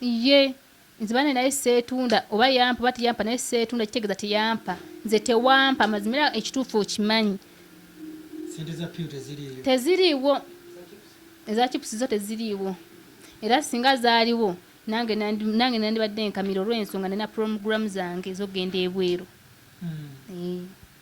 ye nze bane naye seetunda oba yampa oba teyampa naye seetunda kitegeeza teyampa nze tewampa amazima era ekituufu okimanyi teziriiwo eza chipusi zo teziriiwo era singa zaaliwo nange nandibadde nkamira olw'ensonga nina puromuguramu zange zogenda ebweru hmm. eh.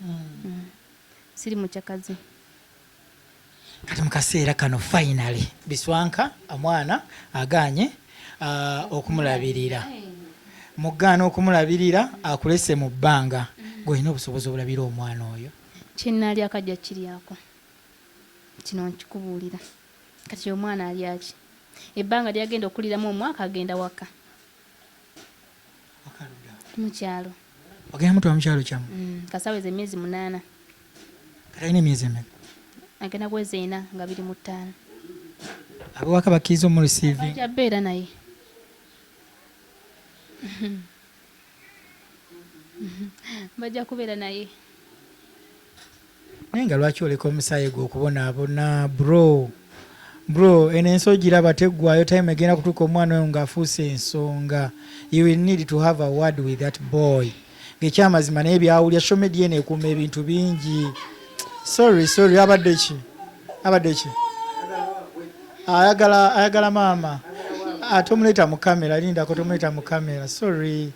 mm. siri mucakazi kati mukaseera kano finally biswanka omwana aganye uh, okumulabirira mugaana okumulabirira akulese mu bbanga gweolina obusobozi obulabira omwana oyo kyenalyako ajja kiryako kino nkikubuulira kati omwana alyaki ebbanga lyagenda okuliramu omwaka agenda waka mukyalo ogenda mutwala mukyalo kyamu mm, kasaweza emyezi munaana katalina emyezi emeka agenda kwezi ena nga biri mu ttaano abewaka bakkiriza omureceivingabeera naye bajja kubeera naye naye nga lwaki oleka omusaayi gwe okubonaabona bro bro eno ensi ogiraba teggwayo time egenda kutuuka omwana oyo ng'afuuse ensonga you will need to have a word with that boy ng'ekyamazima naye byawulira social media eno ekuuma ebintu bingi sorry sorry abadde ki abadde ki ayagala ayagala maama ate ah, omuleeta mu kamera lindako tomuleeta mu kamera sorry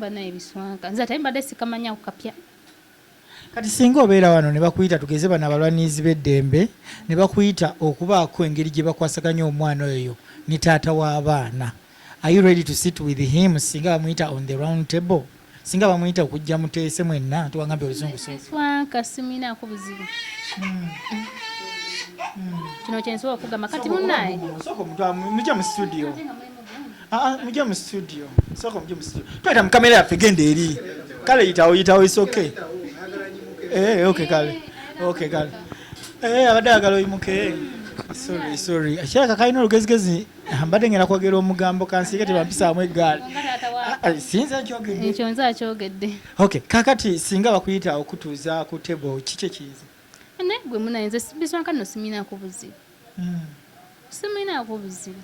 bana ebiswanka nze ate mbadde sikamanya kukapya kati singa obeera wano ne bakuyita tugeze bano abalwanirizi b'eddembe ne bakuyita okubaako engeri gye bakwasaganya omwana oyo ne taata w'abaana are you ready to sit with him singa bamuyita on the round table singa bamuyita okujja muteese mwenna tuwangambye oluzungu kasiminaako buzibu hmm. Hmm. kino kyensobola okugamba kati munaye muje mu studio ah, ah, muje mu studio sooka muje mu studio tweta mu kamera yaffe genda eri kale yitawo yitawo isoke eh, ok kale ok kale eh, abadde agala oyimuke sorry sorry akiraka kalina olugezigezi mbadde ngenda kwogera omugambo kansiike tebampisaamu eggaali ah, ah, sinza nkyogedde ekyo nze akyogedde ok kakati singa bakuyita okutuuza ku tebo kikye kiyinza naye gwe munaye nze bisonka no siminaako buzibu hmm. siminaako buzibu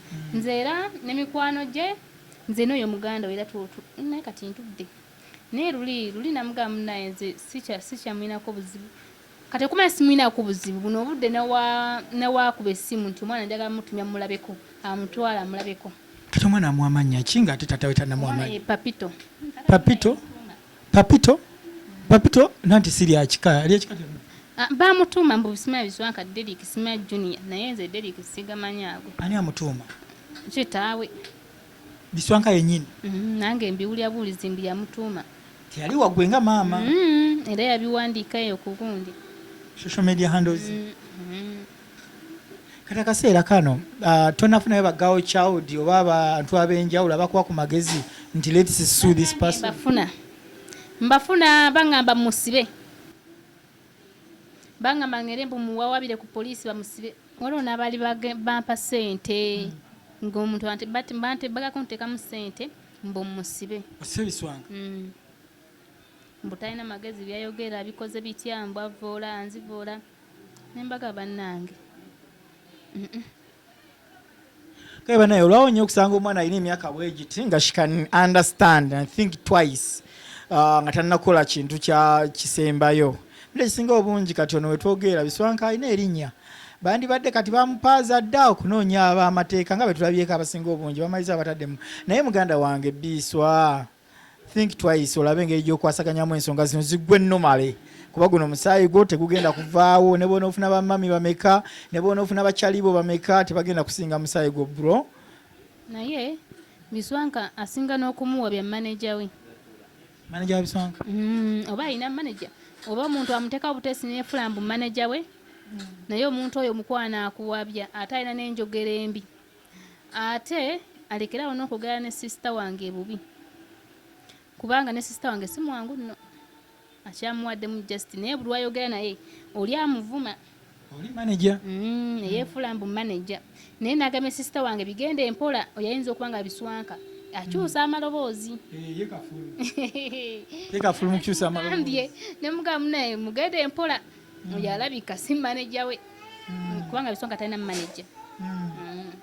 hmm. nze era ne mikwano gye nze n'oyo muganda era tuotu naye kati ntudde naye luli luli namugamba munaye nze sikyamulinako buzibu Kati okumanya simulinaako buzibu buno obudde nawaakuba essimu nti omwana njagala mutumya mumulabeko amutwala amulabeko. Kati omwana amuwa mannya ki nga ate taata we tanamuwa mannya? Papito. Papito? Papito? Papito nanti si lya kika lya kika kyonna. Ah, Baamutuuma mbu bisimanya biswanka Derrick simanya junior naye nze Derrick sigamanyi ago. Ani amutuuma? Kitaawe. biswanka yenyini mm, nange mbiwulira buwulizi mbu yamutuuma teyali wagwe nga maama mm, era yabiwandiika eyo ku gundi social media handles mm, mm. kati akaseera kano uh, tonafunayo bagawo child oba abantu abenjawulo abakuwa ku magezi nti lets sue this person mbafuna mbafuna bangamba musibe bangamba ngende mbu muwawabire ku poliisi bamusibe waliwo n'abaali bampa ssente hmm. ng'omuntu bagala kunteekamu ssente mbu musibe osebiswanga hmm. mbu talina magezi byayogera bikoze bitya mbu avoola anzivoola nembaga bannange Kale banaye olwawo nnyo okusanga omwana alina emyaka bwegiti nga she can understand and think twice uh, nga tannakola kintu kya kisembayo bula ekisinga obungi kati ono wetwogeera biswanka alina erinnya bandibadde kati bamupaaza dda okunoonya abamateeka nga betulabyeko abasinga obungi bamaliza abatadde mu naye muganda wange biiswa Think twice olabe engeri gy'okwasaganyamu ensonga zino ziggwe nomale kuba guno omusaayi gwo tegugenda kuvaawo ne bona ofuna bamami bameka ne bona ofuna bakyalibo bameka tebagenda kusinga musaayi gwo bro naye biswanka asinga n'okumuwa bya maneja we maneja wa biswanka mm, oba alina maneja oba omuntu amuteekawo butesi nefula mbu maneja we naye omuntu oyo omukwano akuwabya ate alina n'enjogera embi ate alekere awo n'okwogera ne sisita wange ebubi kubanga ne sisita wange si mwangu nno akyamuwaddemu just naye buli wayogera naye oli amuvuma oli manaja mm, eyefuula mbu manaja naye nagambye sisita wange bigenda empola oyayinza okuba nga biswanka akyusa mm. amaloboozi eh, ne mugamba naye mugenda empola mm. oyo alabika si maneja we mm. kubanga bisonga talina maneja mm. mm.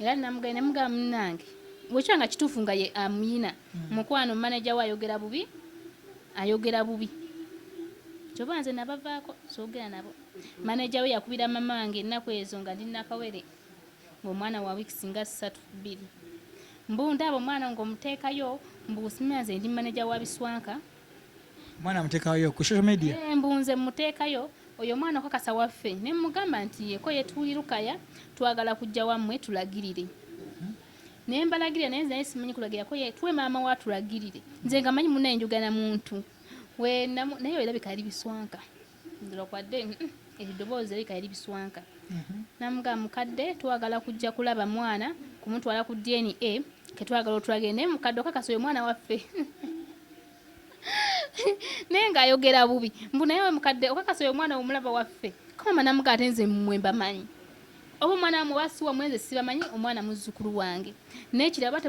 era namugaye nemugamba munange bwekyo nga kituufu nga ye amuyina mm. mukwano maneja we ayogera bubi ayogera bubi kyoba nze nabavaako soogera nabo maneja we yakubira mama wange ennaku ezo nga ndi nakawere ngaomwana wa wiiki singa ssatu bbiri mbu ndaaba omwana ngaomuteekayo mbu simira nze ndi maneja wa biswanka mwana mutekayo ku social media eh, mbunze mutekayo oyo mwana okakasa waffe ne mugamba nti yeko yetuli lukaya twagala kujja wamwe tulagirire hmm? ne mbalagirira naye nze simanyi kulagira ko yetwe maama wa tulagirire nze ngamanyi muna enjogana muntu we nayo era bikali biswanka nzira kwadde eddoboozi erika yali biswanka namugaa mukadde twagala kujja kulaba mwana kumutwala ku dna ketwagala otulagire naye mukadde okakasa oyo mwana waffe naye ngaayogera bubi mbu naye we mukadde okakasa oyo mwana womulaba waffe kamama namugaa ate nze mmwe mbamanyi oba omwana wamwe oba siwa mwenze sibamanyi omwana muzzukulu wange naye kiraba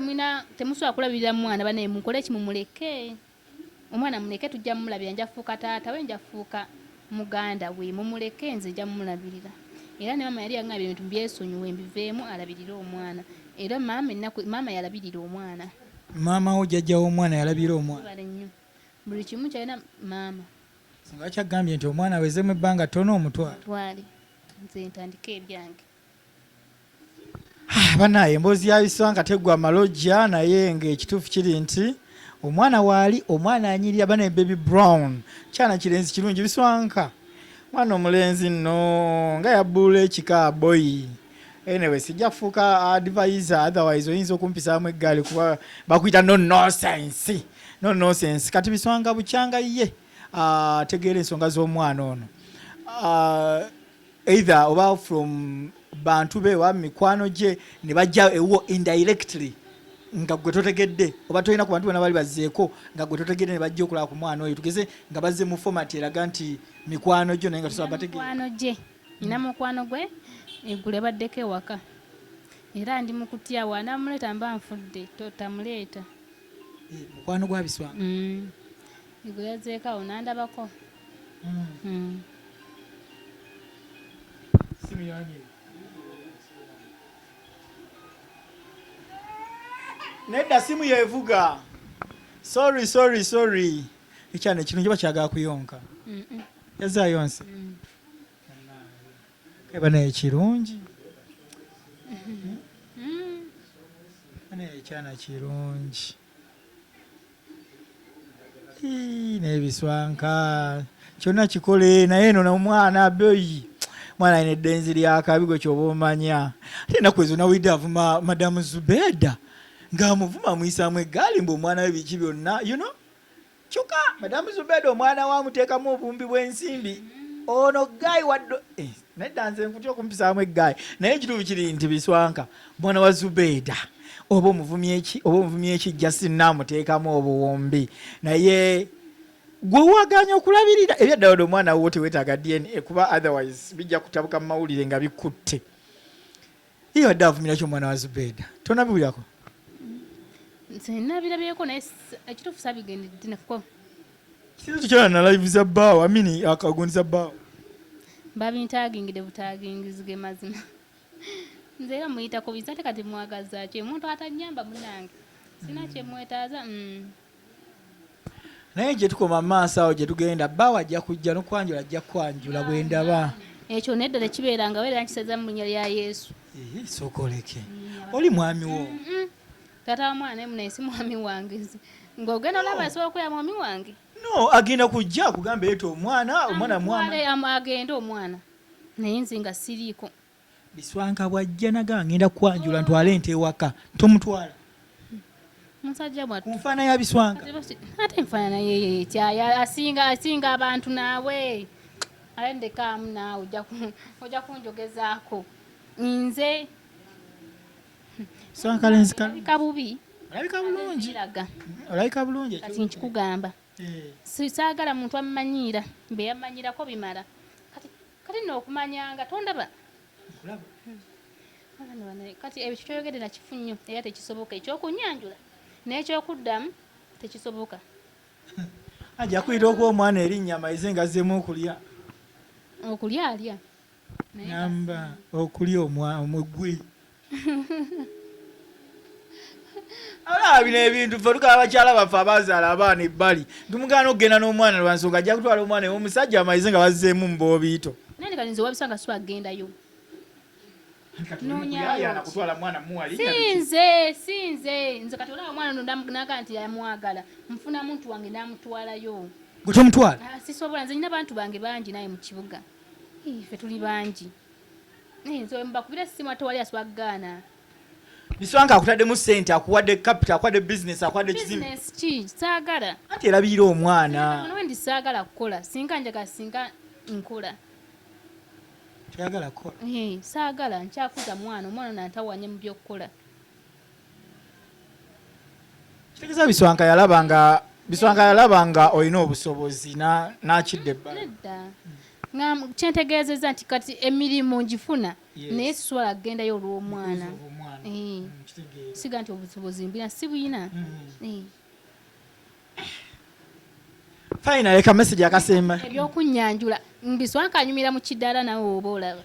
temusobola kulabirira mwana banaye mukole ekimumuleke Omwana muleke tujja mulabira nja fuuka taata we nja fuuka muganda we mumuleke nze nja mulabirira era ne maama yali yangamba ebintu byesonyiwe mbiveemu alabirire omwana era maama ennaku maama yalabirira omwana maama wo jajja w'omwana yalabirira omwana buli kimu kyalina maama singa kyagambye nti omwana awezemu ebbanga ttono omutwale nze ntandike ebyange Ah, banaye emboozi ya iswanga tegwa malojja naye ngaekituufu kiri nti omwana waali omwana anyirira bana baby brown kyana kirenzi kirungi biswanka mwana omulenzi nno nga yabbuula ekika boyi anyway sijja kufuuka advisor otherwise oyinza okumpisaamu eggaali kuba bakuyita no nosense no nosense kati biswanga bukyanga ye ategeera ah, ensonga z'omwana ono ah, either oba from bantu be oba mikwano gye ne bajja ewuwo indirectly nga gwe totegedde oba tolina ku bantu bona bali bazzeeko nga gwe totegedde ne bajja okulaba ku mwana oyo tugeze nga bazze mu fomati eraga nti mikwano gyo naye nga tosobola bategeano gye nina hmm. mukwano gwe eggulu ebaddeko ewaka era ndi mu kutya wanamuleeta mba nfudde totamuleeta eh, mukwano gwabiswa hmm. eggulu yazeeko awo nandabako nedda simu yevuga sorry sorry sorry ekyana kino njoba kyagala kuyonka yazayonse mm. keba naye kirungi mm-hmm. mm. naye ekyana kirungi n'ebiswanka kyonna kikole naye eno nomwana abeyi mwana ine eddenzi lyakabi gwe kyoba omanya ate enaku ezo nawulidde avuma madamu zubeda ng'amuvuma amuyisaamu eggaali mbu omwana we biki byonna you know Kyoka madam Zubeda omwana wa mutekamu obumbi bwensimbi ono guy waddo eh, nedda nze nkutya okumpisaamu eggayi naye ekituufu kiri nti biswanka mwana wa Zubeda oba omuvumi eki oba omuvumi eki just namuteekamu obuwumbi naye gwe waganya okulabirira ebyaddala odo omwana wuwo tewetaaga DNA kuba otherwise bijja kutabuka mu mawulire nga bikutte Iyo adde avumira kyo mwana wa Zubeda. Tona biwirako. Nze nabira byeko naye ekitufu sabigende dina ko. Sisi tukyala na live za bawo amini akagundi za bawo. Babi ntagingide butagingizige mazima. Nze era muyita ko bizate kati mwagaza kye muntu atanyamba munange. Sina kye mwetaza. Mm. naye gye tukoma mu maaso awo gye tugenda bbaawe ajja kujja n'okwanjula ajja kukwanjula bwe ndaba ekyo nedda tekibeeranga weera nkiseza mu linnya lya yesu sokoleke oli mwami wo taata wa mwana emu naye si mwami wange ng'ogenda olaba asobola okuya mwami wange no agenda kujja kugamba eto omwana omwana mwana agende omwana naye nze nga siriiko Biswanka bw'ajja nagamba ngenda kukwanjula ntwale ente ewaka tomutwala musajja mwattu ku nfaana ya biswanka ate enfaanana yeye kyaya asinga asinga abantu naawe ale ndekaamu naawe ojja kunjogezaako nze swankalenzika bubi olabika bulungi olabika bulungi kati nkikugamba eh. saagala muntu ammanyiira beyamanyirako bimala Kati nno okumanya nga tondaba kati ebyo kitoyogedde nakifu nnyo era tekisoboka ekyokunyanjula n'ekyokuddamu tekisoboka ajja kuyita okuwa omwana erinnya amayize nga azzemu okulya okulya alya namba okulya omugwi alaba bino ebintu fe tukaba bakyala baffe abazaala abaana ebbali tumugaana okugenda n'omwana lwansonga ajja kutwala omwana omusajja amayize nga bazeemu muboobiito sinze sinze nze kati olaba omwana nonamnaga nti yamwagala nfuna muntu wange namutwalayo gwetomutwala ah, sisobola nze nyina bantu bange bangi naye mu kibuga fe tuli bangi nze mbakubira essimu ate wali aswaggaana biswanka akutaddemu ssente akuwadde kapita akuwadde bizinesi akuwadde kizibu ki saagala anti erabiira omwana ndi saagala kukola singa njagala singa nkola toyagala kukola saagala nkyakuza mwana omwana nantawanye mu byokukola kitegeza biswanka yalaba nga biswanka yalaba nga olina obusobozi n'akidda ebbala kyentegeezeza nti kati emirimu ngifuna naye siswala kugendayo olw'omwana eh. mm, siga nti obusobozi mbina si buyina mm. eh. fayina leka mesegi akasemba ebyokunyanjula mbiswanka anyumira mu kidaala nawe oba olaba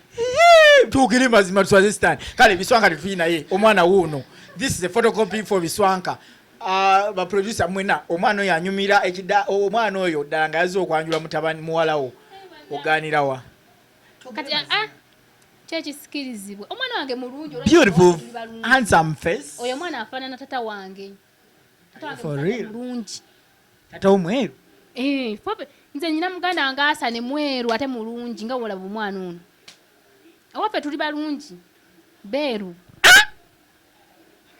tuukire mazima tuswaze sitaani kale biswanka tetuyi naye omwana wuuno this is a photocopy for biswanka ah, baproducer mwena omwana oyo anyumira ekida omwana oyo ddala nga yazze okwanjula mutabani muwalawo ogaanirawa kati ah, ah, kyekisikirizibwa omwana wange mulungi beautiful handsome face oyo omwana afaanana tata wange bulungi tata omweru eh, nze nyina muganda wange asane mweru ate mulungi nga wolaba omwana ono awaffe tuli balungi beeru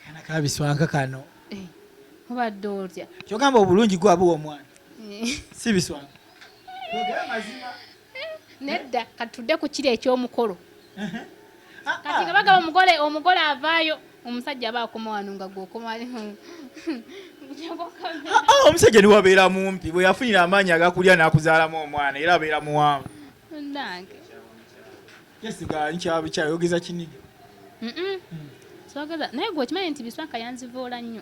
kana kabiswanka kano eh, obadde otya kyogamba obulungi gwabuwa omwana eh. si biswanka nedda kati tudde ku kiri eky'omukolo ah, kati nga ah. bagaba omugole omugole avaayo omusajja aba akoma wano nga gwokomaomusajja ah, niwabeera mumpi bwe yafunira amaanyi agakulya n'akuzaalamu omwana era abeera muwanvu nange kyayogeza kinigi hmm. naye gwe okimanyi nti biswanka yanzivuula nnyo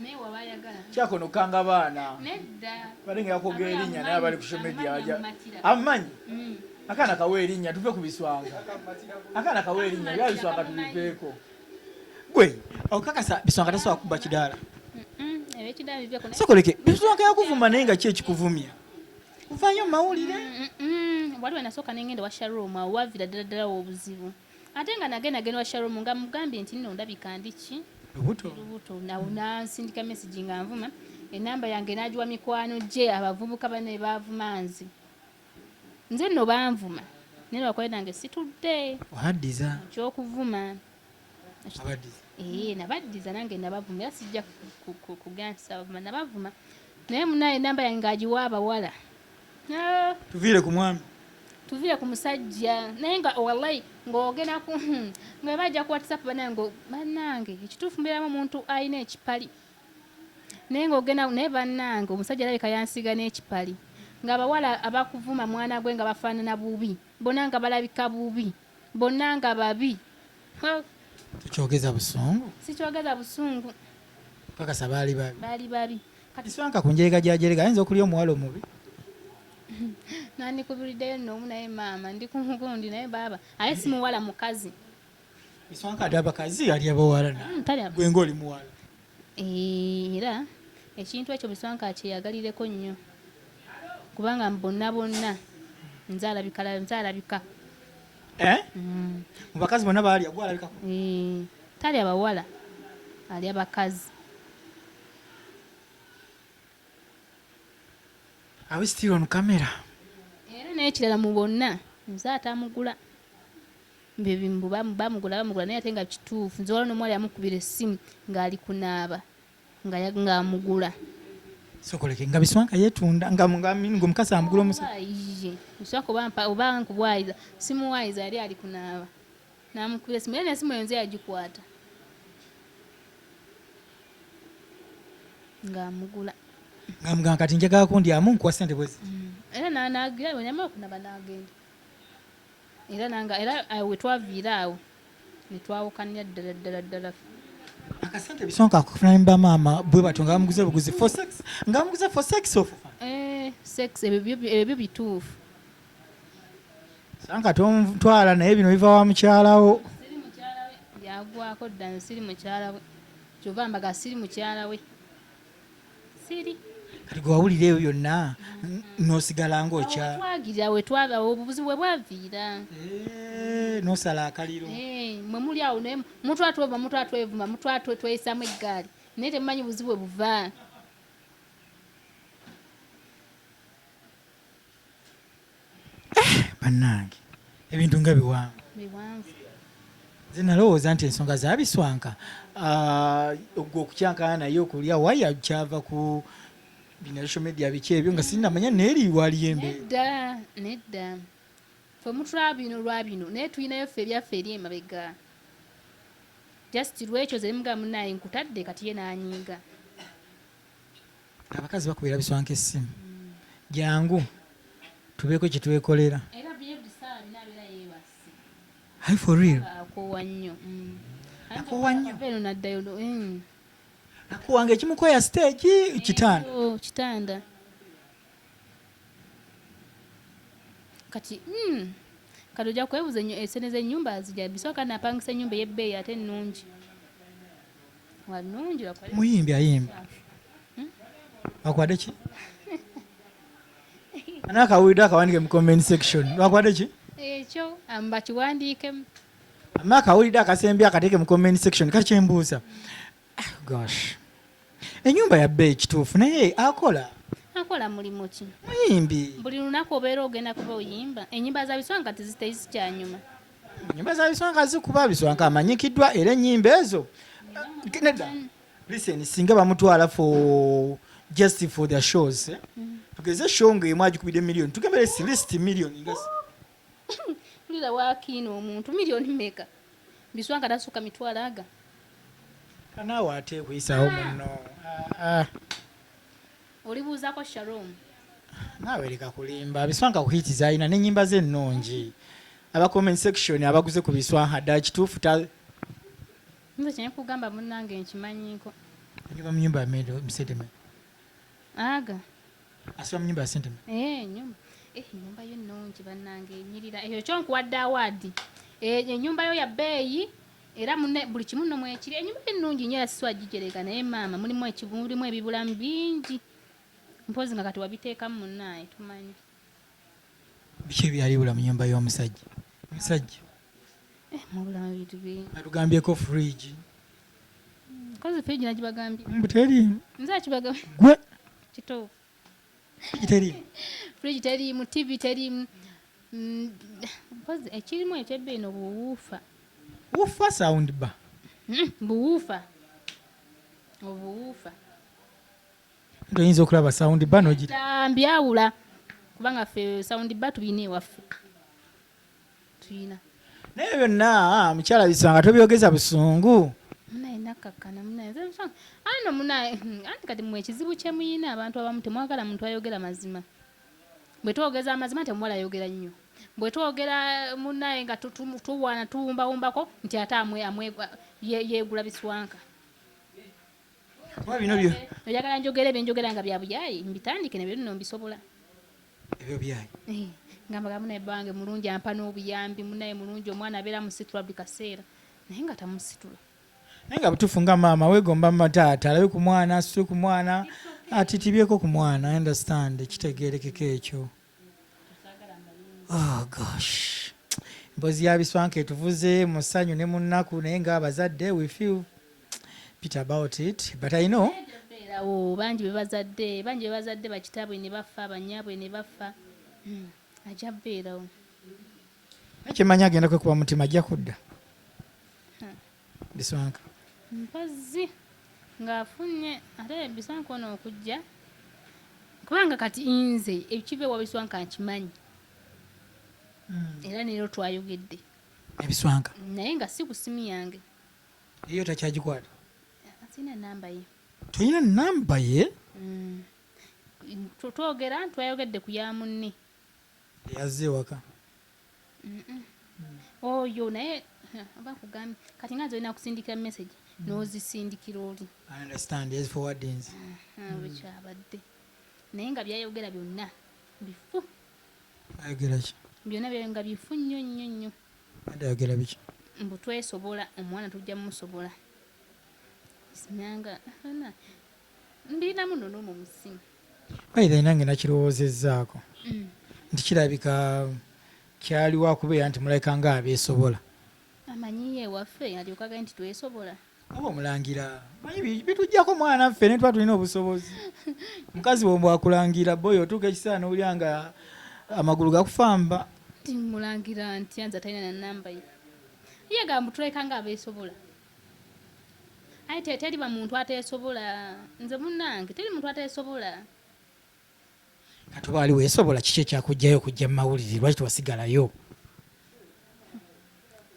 naye waba ayagala kyakono kanga baana nedda bali nga yakoga erinnya naye abali ku social media aja amanyi mm. akana kawa erinnya tuve ku biswanga akana kawa erinnya bya biswanga tubiveeko gwe okakasa biswanga tasobola kubba kidaala sokoleke biswanga yakuvuma naye nga ki ekikuvumya kuvayo mawulire waliwo nasooka nengenda wa sharoom awo wavira ddala ddala wobuzibu ate nga nagenda genda wa sharom nga mugambye nti nno ndabika ndi ki lubuto nawo nansindika message nga nvuma enamba yange nagiwa mikwano gye abavubuka bane bavuma nze nze nno banvuma naye lwakuba nange situdde wabaddiza kyokuvuma ee nabaddiza nange nabavuma era sijja kugansabavuma nabavuma naye munaye enamba yange agiwa abawala Ah. Tuviire ku mwami. Tuviire ku musajja. Naye nga wallahi ng'ogenda ku hmm, nga bajja ku WhatsApp banange banange ekituufu mbeeramu omuntu alina ekipali. Naye ng'ogenda naye banange omusajja alabika yansiga n'ekipali. Ng'abawala abakuvuma mwana gwe nga bafaanana bubi. Bona nga balabika bubi. Bona nga babi. Tukyogeza busungu. Sikyogeza busungu. Kakasa baali babi. Baali babi. kati swanka ku njerega gya jerega ayinza okulya omuwala omubi nandikubiriddeyo noomu naye maama ndi ku mugundi naye baaba aye si muwala mukazi iswanka ati abakazi alya bawala hmm, gwe ngaoli muwala era ekintu ekyo biswanka akyeyagalireko nnyo kubanga bonna bonna nzalabika eh? hmm. mu bakazi bonna baalya gwalabikako talya bawala alya bakazi Are we still on camera? Era n'ekirala mu bonna nze atamugula bebimbu bamugula bamugula naye ate nga kituufu nze waliwo nomuwala yamukubira essimu ng'ali kunaaba ng'amugula sokoleke nga biswanka yetunda nga mukasa amugula omusa biswanka oba nkubwayiza simuwayiza yali ali kunaaba Namukubira esimu era n'esimu eyo nze yagikwata ng'amugula ngamugamba kati njagala kundyamu nkuwa sente bwezi mm. era nanagira wenyama okunaba nagenda era nanga era eh, wetwaviira awo netwawukanya ddala ddala ddala akasente bisonka akufuna nemba maama bwe batyo nga bamuguze buguzi for sex nga bamuguze for sex of eh sex ebyo bituufu Sanka tontwala naye bino biva wa mukyalawo. Siri mukyala we yagwako dda nze siri mukyala we. Kyova mbaga siri mukyala we. Siri. Kati gwe wawulira ebyo byonna n'osigala ng'okya. Twagirira we twava obubuzi we bwaviira. Eh, n'osala akaliro. Eh, mwe muli awo naye mutwa twova mutwa twevuma mutwa tweyisamu eggaali naye temumanyi buzibu bwe buva. Eh, bannange ebintu nga biwanvu biwanvu nze nalowooza nti ensonga zabiswanka ah, ogwe okukyankana naye okulya waya kyava ku binasho media biki ebyo nga sinamanya neeriwaliyo embeera nedda nedda fe mutula bino lwa bino naye tulinayo ffe ebyaffe eri emabega just lwekyo zerimuga munaye nkutadde kati ye nanyiiga abakazi bakubira biswanka essimu jangu tubeeko kyetwekolera hi for real akowa nnyo mm. akowa nnyo mm. akowa nga ekimukoya stage kitanda oh, kitanda kati mm. kati ojja kwebuza enyo esene eh, z'ennyumba azija bisooka napangisa ennyumba ey'ebbeeyi ate ennungi muyimbi ayimba hmm? bakwade ki anakawulidde akawandike mu comment section bakwade ki ekyo ambakiwandiikemu ama akawulidde akasembi akateeke mu comment section kakyembuuza ah, gosh enyumba yabba ekituufu naye akola akola mulimu ki muyimbi buli lunaku obeera ogenda kuba oyimba enyimba zabiswanga tezitezikyanyuma nyimba za biswanka zikuba biswanka amanyikiddwa era ennyimba ezo nedda listen singa bamutwala for just for their shows eh? mm. tugeze show nga emu agikubidde million tugembere si list million nga mpulira wakiina omuntu million meka biswanka tasuka mitwalo aga kanaawe ate kuyisawo muno ah, ah. Olibuuzako Sharom. Naawe leka kulimba biswanka ku hiti zalina n'ennyimba ze ennungi aba comment section abaguze ku biswanka ddala kituufu ta nze kye nkugamba munnange nkimanyiiko nyoba mu nyumba yamedo musentema aga asiba mu nyumba ya sentema ee eh, nyumba ee eh, nyumba yo nnungi bannange enyirira eyo kyonkuwadde awaadi enyumba eh, yo ya bbeeyi era mune buli kimu no mwekiri enyumba ennungi nyo yasiswa gijerega naye maama mulimu ekibu mulimu ebibulamu bingi mpozi nga kati wabiteekamu munaye tumanyi biki ebyali bula mu nyumba y'omusajja omusajja eh, mubulamu ebintu bingi atugambyeko fridge kozi fridge nagibagambye mbuteriimu nze akibagambye gwe kituufu fridge teriimu tv teriimu mm, mpozi ekirimu ekyebbiino buwuufa wufa sound ba hmm, buwuufa obuwuufa oyinza okulaba sound ba nogitambyawula kubanga ffe sound ba tulina ewaffe tuyina naye byonna ah, mukyala bisanga tobyogeza busungu ano munaye hmm, anti kati mwe ekizibu kyemuyina abantu abamu temwagala muntu ayogera mazima bwe twogeza amazima temuwala ayogera nnyo bwe twogera munaye nga tuwaana tuwumbawumbako nti ate yegula biswanka oyagala njogera ebyenjogera nga byabuyayi mbitandike nebyo nno mbisobola ebyo byayi eh, nga mbaga munaye bange mulungi ampa n'obuyambi munaye mulungi omwana abeera musitula buli kaseera naye nga tamusitula naye nga butuufu nga maama wegomba mataata alabe ku mwana asitule ku mwana atitibyeko ku mwana understand kitegerekeko ekyo oh gosh mbozi yabiswanka etuvuze musanyu ne munnaku naye nga abazadde we feel Peter about it but I know beerawo bangi bebazadde bangi bebazadde bakitaabwe ne baffa banyaabwe ne baffa hmm, ajja beerawo ekyemanyi agenda kwekuba mutima ajja kudda hmm. biswanka mpazzi ng'afunye ate biswanka ono okujja kubanga kati nze ekiva ewa biswanka nkimanyi hmm. era neero twayogedde ebiswanka naye nga si ku simu yange Eyo takyagikwata. Sina namba ye. Toyina namba ye? Mm. Twogera twayogedde ku ya munne. Yazze waka. Mm -mm. Oyo naye oba kugambye kati nga nze olina kusindikira message mm. n'ozisindikira oli. I understand. Yes, forwardings. Uh -huh. mm. Wekyabadde. Naye nga byayogera byonna bifu. Ayogera ki? Byonna byayogera nga bifu nnyo nnyo nnyo. Andi ayogera biki? Mbu twesobola omwana tujja musobola. Sinyanga ana ndina muno no mu musimu. By the nange nakirowoozezzaako mm. nti kirabika kyali wakubeera nti mulabika nga abeesobola amanyi ye waffe alyoka gaye nti twesobola Oba omulangira manyi bitujjako mwana ffe ne tuba tulina obusobozi mukazi wombu akulangira boyi otuuka ekiseera n'owulira nga amagulu gakufamba mulangira nti anza talina na namba ye ye gambu tuleka nga abeesobola aye teri bamuntu ateesobola nze munnange teri muntu ateesobola kati oba wali weesobola kiki ekyakujjayo okujja mu mawulire lwaki tewasigalayo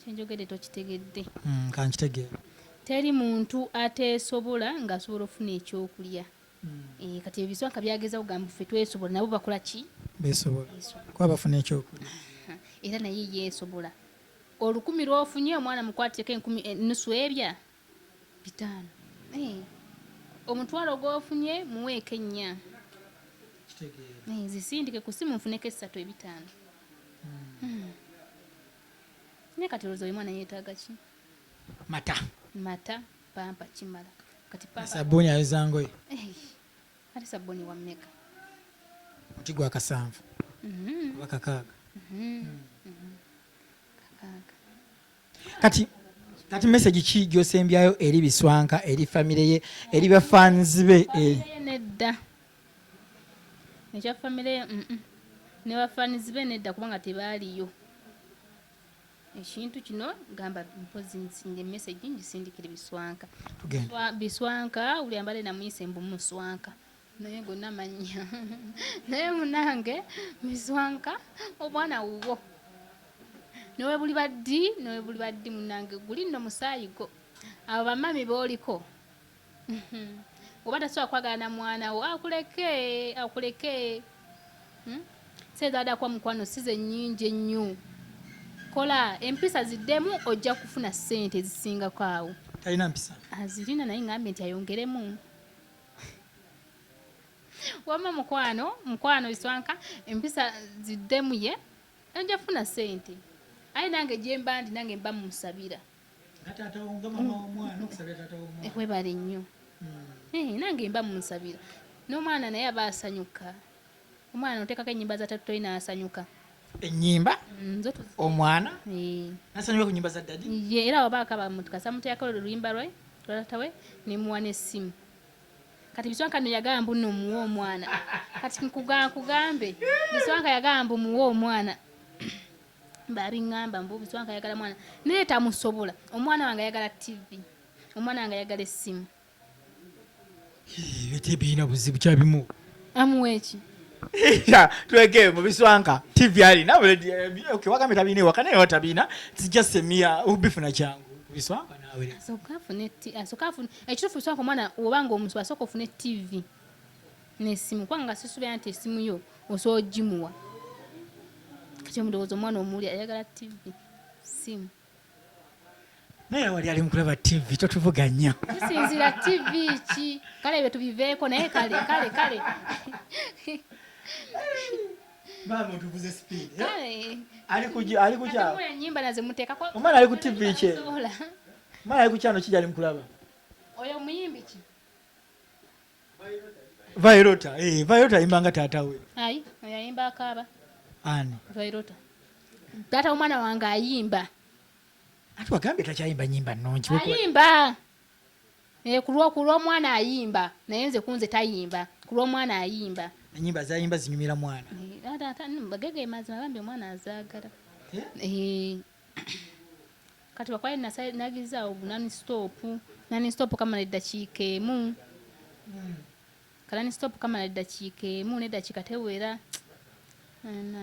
kyenjogedde tokitegedde hmm, kankitegeera teri muntu ateesobola ng'asobola okufuna ekyokulya hmm. eh, kati ebiswaka byageza kugamba ffe twesobola nabo bakola ki besobola kuba bafuna ekyokulya era naye yeesobola olukumi lwofunye omwana mukwateko enkumi eh, nusu ebya bitaano eh, omutwalo gwofunye muweeko ennya eh, zisindike ku simu nfuneko essatu ebitaano hmm. hmm. ne kati olowooza oyo mwana yeetaaga ki mata mata pampa kimala kati sabuuni ayoza ngoye eh, ate sabuuni wammeka omuti gwa kasanvu mm-hmm. oba kakaaga mm-hmm. mm-hmm. kakaaga kati kati message ki gyosembyayo eri biswanka eri family ye eri ba fans be eh. nedda ekya family ye mm -mm. ne ba fans be nedda kubanga tebaaliyo ekintu kino gamba mpozi nsinge message ngisindikire biswanka biswanka uli ambale na mwise mbu muswanka naye gonna mannya naye munange mizwanka obwana wuwo newebuli baddi newebuli baddi munange guli nno musaayi go abo bamami booliko oba tasobola kwagala na mwana wo akuleke akuleke hmm? sezaadakwa mukwano size nnyingi ennyo kola empisa ziddemu ojja kufuna ssente ezisingako awo talina mpisa azirina naye ngambe nti ayongeremu wama mukwano mukwano iswanka empisa ziddemuye ojja funa sente aye nange gyemba ndi nange mba mumusabira webale nnyo hmm. eh, nange mba mumusabira n'omwana naye aba asanyuka Omwana otekako enyimba za tatu toyina asanyuka. Enyimba? Mm, zo tuzi. Omwana? Eeh. Nasanyuka ku nyimba za daddy? Ye era waba akaba mutuka samuta yakolo luyimba lwe lwatawe ne muwana esimu. Kati biswanka no yagamba mbu no muwa omwana. Kati nkuga kugambe biswanka yagamba mbu muwa omwana. Babi ngamba mbu biswanka yagala mwana. Naye tamusobola. Omwana wange yagala TV. Omwana wange yagala esimu. tebirina buzibu kyabimu amuweki tuleke mu biswanka tv alina wagambye tabina ewaka naye watabina its just a mere ubifuna kyangu biswanka nawe asooka afune asooka afune ekituufu biswanka omwana oba nga omusu asooka ofune tv n'essimu kubanga nga sisubira nti essimu yo osobola ogimuwa kati omulowooza omwana omuwulira ayagala tv simu naye wali ali mukulaba tv totuvuganya tusinzira tv ki kale ebyo tubiveeko naye kale kale kale bamutuvuze speed eh? ali kuja ali kuja nyimba naze muteka kwa omwana ali ku tv ki omwana ali kuja no kija ali mukulaba oyo muyimbi ki Vairota, eh, Vairota ayimba nga taata we. Ayi, oyo ayimba akaaba. Ani? Vairota. Taata omwana wange ayimba. Ati wagambye takyayimba nyimba nnungi. Ayimba. Eh, kulwa kulwa mwana ayimba. Naye nze kunze tayimba. Kulwa mwana ayimba. Nyimba zayimba zinyumira mwana. Eh, taata, bagege mazima bambi omwana azagala. Eh? eh. kati wakwali nagizaawo gunani sitopu nani sitopu kamala eddakiika emu hmm. kanani sitopu kamala eddakiika emu n'eddakiika tewera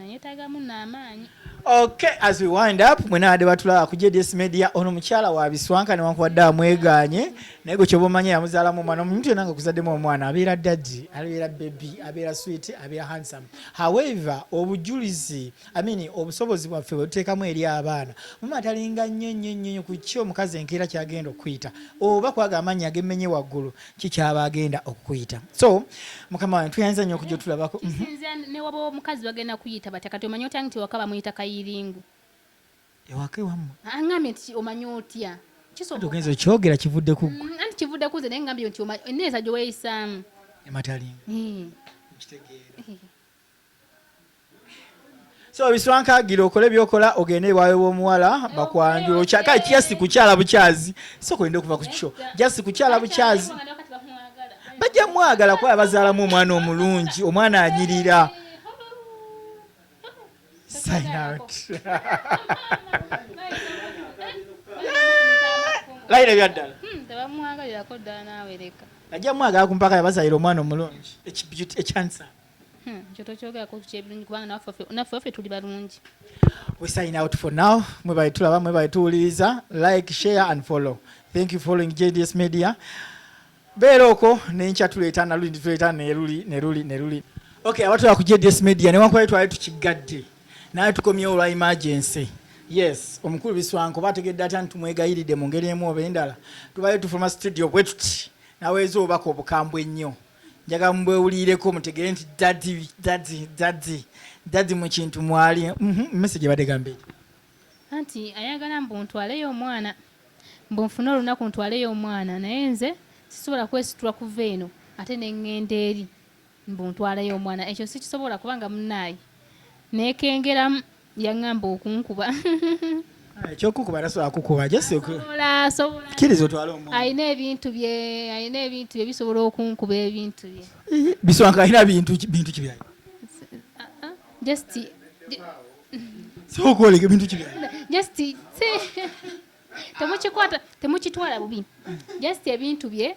yetagamu namaanyi okay as we wind up mwenade batulaba ku jds media ono mukyala wa biswanka newankubadde amweganye naye gwe kyoba omanya yamuzaalamu omwana omuntu yona nga kuzaddemu omwana abeera daddi abeera bebi abeera swit abeera handsome however obujulizi amini obusobozi bwaffe bwe tuteekamu eri abaana mama atalinga nnyo nnyo nnyo ku ki omukazi enkeera kyagenda okukuyita oba kwaga amannya agemmenye waggulu kikyaba agenda okukuyita so mukama wange tuyinza nnyo okujja otulabako mhm. kisinzira ne waba omukazi bagenda kuyita batya kati omanyi otya nti waka bamuyita kayiringu ewaka ewammwe angambye nti omanyi otya kisobogenza okyogera kivudde ku ggwe mm, anti kivudde ku nze naye ngambye nti enneeyisa gye weeyisaamu ematalinga hmm. kitegeera so biswankagira okole byokola ogende ewawe womuwala bakwanjula okyaka just kukyala bukyazi soko ende okuva kukyo just kukyala bukyazi bajja mwagala kuba bazaalamu omwana omulungi omwana anyirira layira byaddala hmm, ajja mwagala kumpaka yabazalira omwana omulungi ekyansa Hmm, ekyo tokyogerako kyebirungi kubanga naffe waffe tuli balungi we sign out for now mwebale tulaba mwebale tuwuliriza like share and follow thank you following jds media beera okwo nenkya tuleeta naluli tuleeta neruli neruli neruli okay abatula ku jds media newankubali twali tukiggadde naye tukomyewo olwa emergency yes omukulu biswanko bategedde atya nti tumwegayiride mu ngeri emu oba endala tubale tufuluma studio bwetuti naweeza obubaka obukambwe ennyo njagala mubwewulireko mutegere nti dadi dadi dadi dadi mu kintu mwali mhm, mmese gye badde gambe anti ayagala mbu ntwaleyo omwana mbu nfune olunaku ntwaleyo omwana naye nze sisobola kwesitula kuva eno ate nengenda eri mbu ntwaleyo omwana ekyo sikisobola kubanga munaayi nekengeramu yangamba okunkuba ekyokukuba tasobola kukuba kiriza otwala omwana alina ebintu bye alina ebintu bye bisobola okunkuba ebintu bye bisobola nga alina bintu bintu kibyayo uh-uh. just sokwoleka ebintu kibyayo just temukikwata temukitwala bubi just ebintu bye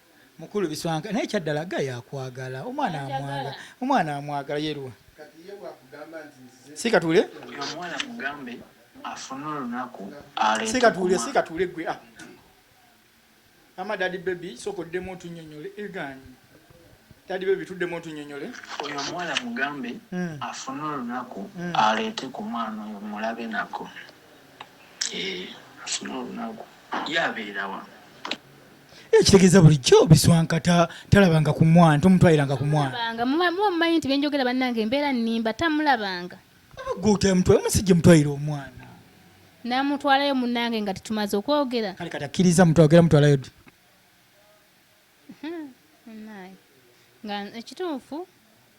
Mukulu biswanka naye kyaddala guy akwagala omwana amwagala omwana amwagala yeruwa sikatule omwana mugambe afune olunaku sikatule sikatule gwe ah. ama dadi baby soko demo tunyonyole egani dadi baby tudemo tunyonyole oyo omwana mugambe hmm. afune olunaku hmm. aleete ku mwana oyo mulabe nako ekitegeeza bulijjo biswankata talabanga ku mwana tomutwaliranga ku mwana muba mumanyi nti byenjogera bannange embeera nnimba tamulabanga omusajja mutwalira omwana namutwalayo munange nga tetumaze okwogera kale katakkiriza mutwagera mutwalayo nga ekituufu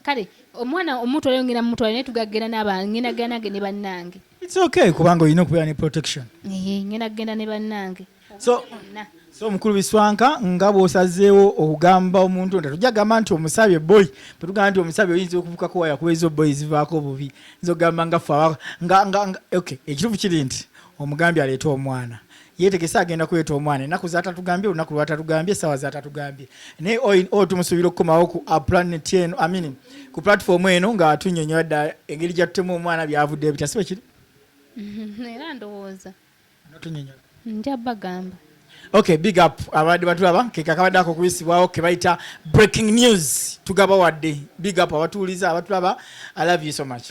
kale omwana omuto leero ngenda mumutwala naye tugagenda naba ngenda genda nange ne bannange it's okay kubanga olina okubeera ne protection ee ngenda kugenda ne bannange so so omukulu biswanka nga bwosazeewo okugamba omuntu nta tujja gamba nti omusabye boy bwetugamba nti omusabye oyinza okuvukako waya kuba ezo boy zivaako obubi nza okugamba nga fe nga nga okay ekituufu kiri nti omugambi aleeta omwana yetegese agenda kuleeta omwana enaku zatatugambye olunaku lwatatugambye esawa zatatugambye naye o tumusuubira okukomawo ku uh, planet eno amin ku platform eno nga tunyonyola dda engeri gyatutemu omwana byavudde ebitya sibe kiri era ndowooza notunyonyola nja bagamba okay big up abadde batulaba kekakabadde ako okuyisibwawo kebayita breaking news tugaba wadde big up abatuuliza abatulaba i love you so much